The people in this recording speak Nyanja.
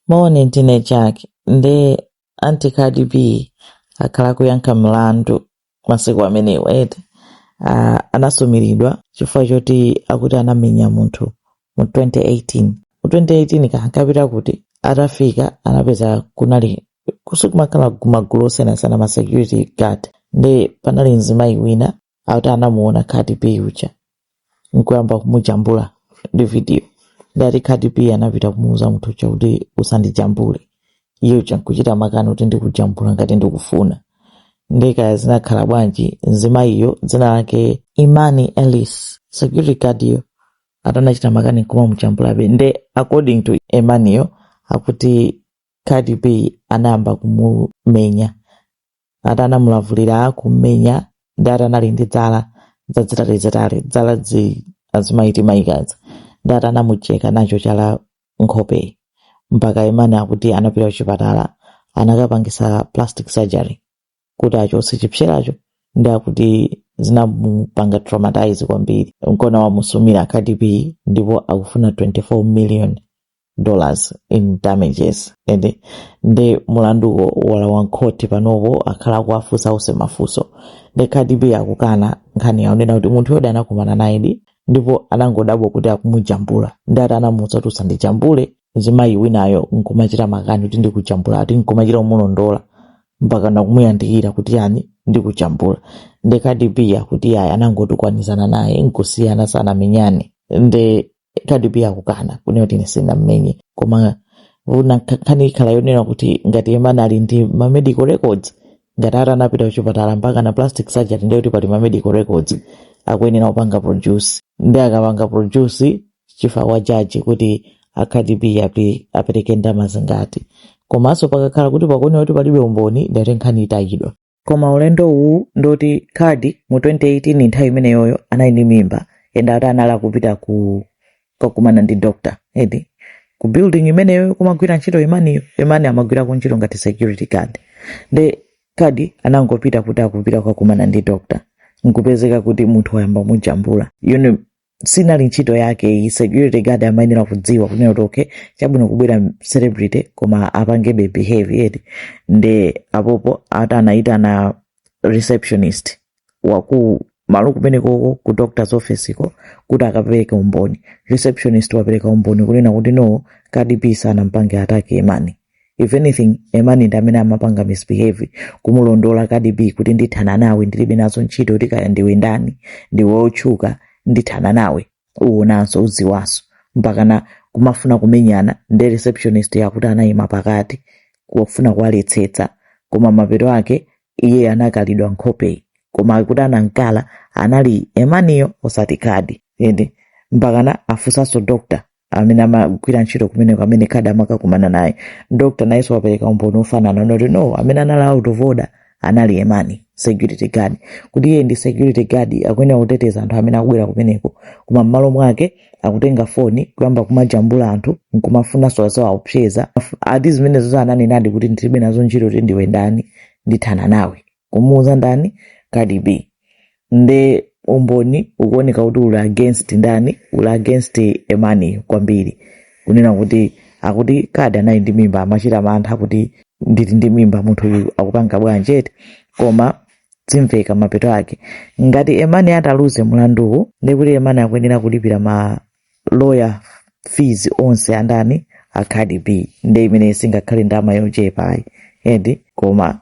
Moni ndine Jack nde ati Cardi B akhala kuyankha mlandu masiku amenewa eti uh, anasumiridwa chifukwa choti akuti anamenya munthu mu 2018 mu 2018 kankapita kuti atafika anapeza kunali kusikumakhala magulu osiyanasiyana ma security guard nde panali mzimayi wina akuti anamuona cardi b uja nkuyamba kumujambula ndi video nde ati cardi b anapita kumuuza munthu uja kuti usandijambule iye uja nkuchita makani kuti ndikujambula ngati ndikufuna ndekaya zinakhala bwanji mzimayiyo dzina lake emani ellis security guard yo atanachita makani nkumamujambulabe nde according to emaniyo akuti cardi b anayamba kumumenya ati anamulavulira, kummenya nde ati anali ndi dzala zazitalizitali dzala zija azimayi timaikazi nde ati anamucheka nacho chala nkhopeyi mpaka emani akuti anapita kuchipatala anakapangisa plastic surgery kuti achotse chipseracho nde akuti zinamupanga traumatize kwambiri nkona wamusumira cardi b ndipo akufuna 24 million dollars in damages nde mlanduwo walowa mkhoti panopo akhala akuwafunsa onse mafunso nde cardi b akukana nkhani yo kunena kuti munthu yodi anakumana nayedi ndipo anangodabwa kuti akumujambula ndi ati anamuuza kuti usandijambule mzimayi winayo nkumachita makani kuti ndikujambula ati nkumachita kumulondola mpaka nakumuyandikira kuti yani ndikujambula nde cardi b akuti ayi anangotukwanizana naye nkusiyana sanamenyane nde Cardi B akukana kunena kuti ine sindinammenye koma nkhani ikhala yonena kuti ngati emani ali ndi ma medical records ngati atanapita kuchipatala mpakana plastic surgery ndiye kuti pali ma medical records akuyenera kupanga produce ndi akapanga produce ziri kwa jaji kuti a Cardi B apereke ndalama zingati komanso pakakhala kuti pakuonera kuti palibe umboni ndiye kuti nkhani itayidwa koma ulendowu ndoti cardi mu 2018 nthawi imeneyoyo anali ndi mimba and ati anali akupita kokakumana ndi doctor edi ku building imeneyo kumagwira ntchito emaniyo emani amagwira ku ntchito ngati security guard nde cardi anangopita kuti akupita kukakumana ndi doctor nkupezeka kuti munthu wayamba mujambula you know, sinali ntchito yake iye security guard amayenera kudziwa kunena kuti okay chabwino kubwera celebrity koma apangebe behave eti nde apopo ati anayitana receptionist waku malo kumenekoko ku doctor's office ko kuti akapereke umboni receptionist wapereka umboni kunena kuti no cardi b sanampange attack emani if anything Emani ndi amene amapanga misbehave kumulondola Cardi B kuti ndithana nawe ndilibe nazo ntchito kuti kaya ndiwe ndani ndiwe otchuka ndithana nawe uwonanso udziwanso mpakana kumafuna kumenyana ndi receptionist yakuti anayima pakati kufuna kuwaletsetsa koma mapeto ake iye anakalidwa nkhopeyi koma akuti anankala anali Emaniyo osati Cardi ende mpakana afunsanso doctor amene amagwira ntchito kumeneko amene Cardi amakakumana naye doctor nayenso wapereka umboni ofanana kuti no amene anali out of order anali Emani security guard kuti iye ndi security guard akuyenera kuteteza anthu amene akubwera kumeneko koma m'malo mwake akutenga foni kuyamba kumajambula anthu nkumafunanso kuwaopseza ati zimenezo ananenadi kuti ndilibe nazo ntchito kuti ndiwe ndani ndithana nawe kumuuza ndani Cardi B nde umboni ukuoneka kuti uli against ndani uli against Emani kwambiri kunena kuti akuti Cardi anali ndi mimba amachita mantha kuti ndili ndi mimba munthu uyu akupanga bwanji eti koma zimveka mapeto ake ngati Emani ataluze mlanduwu ndekuti Emani akuyenera kulipira ma lawyer fees onse a ndani a Cardi B nde imene singakhale ndalama yochepa ayi eti koma